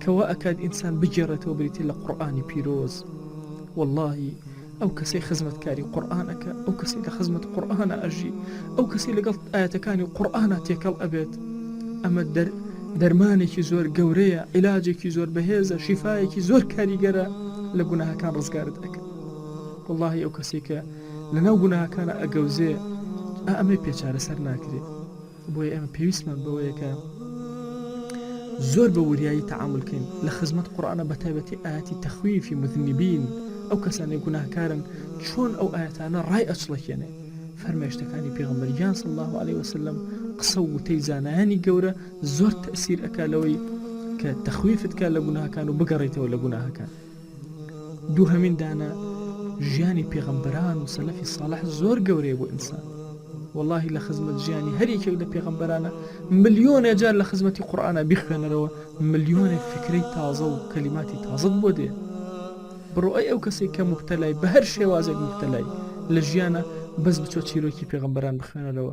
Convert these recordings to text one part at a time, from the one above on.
کە وا ئەکات ئینسان بگێڕێتەوە بریتیە لە قوڕئانی پیرۆز وەڵاهی ئەو کەسەی خزمەتکاری قوڕئان ئەکا ئەو کەسی لە خزمەت قوڕئانە ئەژی ئەو کەسی لەگەڵ ئاەتەکانی قوڕئانە تێکەڵ ئەبێت ئەمە دەر دەرمانێکی زۆر گەورەیە عیلاجێکی زۆر بەهێزە شیفاایەکی زۆر کاریگەرە لە گوناهەکان ڕزگارت ئەکە واللهی ئەو کەسێکە لەناو گوناهەکانە ئەگەوزێ ئەمەی پێچارە سەر ناکرێت بۆیە ئێمە پێویستمان بەوەیە کە زۆر بە وریایی تەعامول بکەین لە خزمەت قورئانە بەتایبەتی ئاەتی تەخویفی مذنبین ئەو کەسانی گوناهکارن چۆن ئەو ئاەتانە ڕای ئەچڵەکێنێ فەرمێشتەکانی پێغمبەر یان صلی الله عليه وسلم قسە و وتەی زانایانی گەورە زۆر تەسیر ئەکا لەوەی کە تەخویفت کا لە گوناهکان و بگەڕیتەوە لە گوناهەکان دووهەمین دانە ژیانی پێغەمبەران و سەلەفی ساڵح زۆر گەورەیە بۆ ئینسان واللهی لە خزمەت ژیانی هەریەکێک لە پێغەمبەرانە ملیۆنێ جار لە خزمەتی قورآە بیخوێنەرەوە ملیۆنێ فکرەی تازە و کەلیماتی تازت بۆ دێ بڕۆی ئەو کەسێک کە مبتەلای بە هەر شێوازێک مبتەلای لە ژیانە بەس بچۆ چیرۆکی پێغمبەران بخوێنەرەوە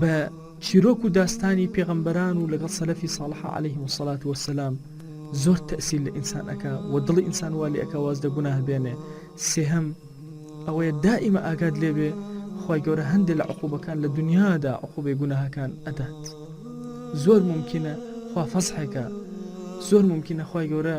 بە چیرۆک و داستانی پێغەمبەران و لەگەڵ سەلەفی ساڵحە عەلەیهم الصلوة والسلام زۆر تەئسیل لە ئینسان ئەکا و دڵی ئینسان وا لێ ئەکا واز لە گوناه بێنێ سێهەم ئەوەیە دائیمە ئاگات لێبێ خوای گەورە هەندێ لە عقوبەکان لە دنیادا عقوبەی گوناهەکان ئەدات زۆر ممکنە خوا فەزحێکە زۆر ممکنە خوای گەورە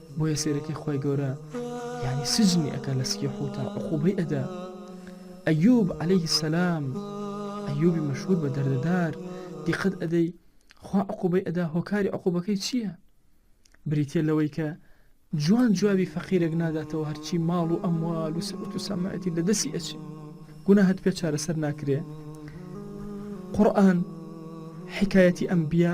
بۆیە سەیرەکی خوای گەورە یانی سجنی ئەکا لە سکی حوتا عقوبەی ئەدا ئەیوب عليه السلام ئەیوبی مەشهور بە دەردەدار دیقەت ئەدەی خوا عقوبەی ئەدا هۆکاری عقوبەکەی چییە بریتە لەوەی کە جوان جوابی فەقیرێک ناداتەوە هەرچی ماڵ و ئەموال و سەوت و سەمایەتی لە دەسی ئەچێ گونا هەت پێ چارەسەر ناکرێ قورآن حکایەتی ئەمبیا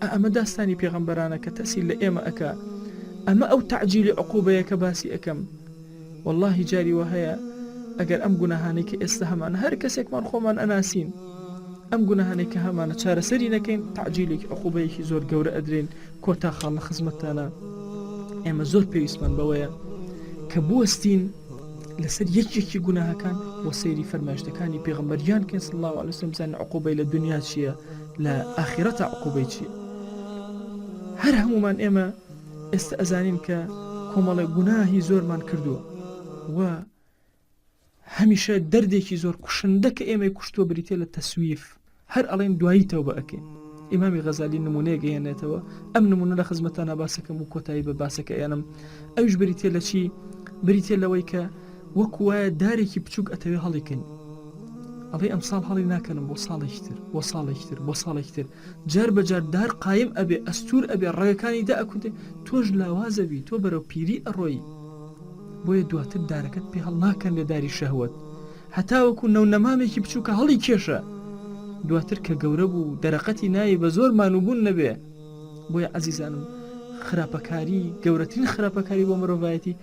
ئا ئەمە داستانی پێغەمبەرانە کە ترسی لە ئێمە ئەکا ئەمە ئەو تەعجیلی عقوبەیە کە باسی ئەکەم وەڵاهی جاری وا هەیە ئەگەر ئەم گوناهانەی کە ئێستا هەمانە هەر کەسێکمان خۆمان ئەناسین ئەم گوناهانەی کە هەمانە چارەسەری نەکەین تەعجیلێکی عقوبەیەکی زۆر گەورە ئەدرێن کۆتا خاڵ لە خزمەتتانە ئێمە زۆر پێویستمان بەوەیە کە بوەستین لەسەر یەکێکی گوناهەکان وە سەیری فەرمایشتەکانی پێغمبەریان کەس الله وسم بزانین عقوبەی لە دنیا چییە لە ئاخیرەتا عقوبەی چیە هەر هەموومان ئێمە ئێستا ئەزانین کە کۆمەڵێ گوناهی زۆرمان کردووە و هەمیشە دەردێکی زۆر کوشندە کە ئێمەی کوشتووە بریتە لە تەسویف هەر ئەڵێن دوایی تەو بە ئەکەین ئیمامی غەزالی نمونەیە گەیەنێتەوە ئەم نمونە لە خزمەتە ناباسەکەم و کۆتایی بە باسەکە ئێنم ئەوش بریتە لە چی بریتە لەوەی کە وەکو وایە دارێکی بچووک ئەتەوێ هەڵیکەنی ئەڵێ ئەم ساڵ هەڵی ناکەنم بۆ ساڵێکی تر بۆ ساڵێکی تر بۆ ساڵێکی تر جار بەجار دار قایم ئەبێ ئەستور ئەبێ ڕێگەکانی دا ئەکوتێ تۆش لاوازەبی تۆ بەرەو پیری ئەڕۆیی بۆیە دواتر دارەکەت پێ هەڵ ناکەن لە داری شەهوت هەتاوەکو نەو نەمامێکی بچووکە هەڵی کێشە دواتر کە گەورە بوو دەرەقەتی ناوی بە زۆر مانوبوون نەبێ بۆیە ئازیزانم خراپەکاری گەورەترین خراپەکاری بۆ مرۆڤایەتی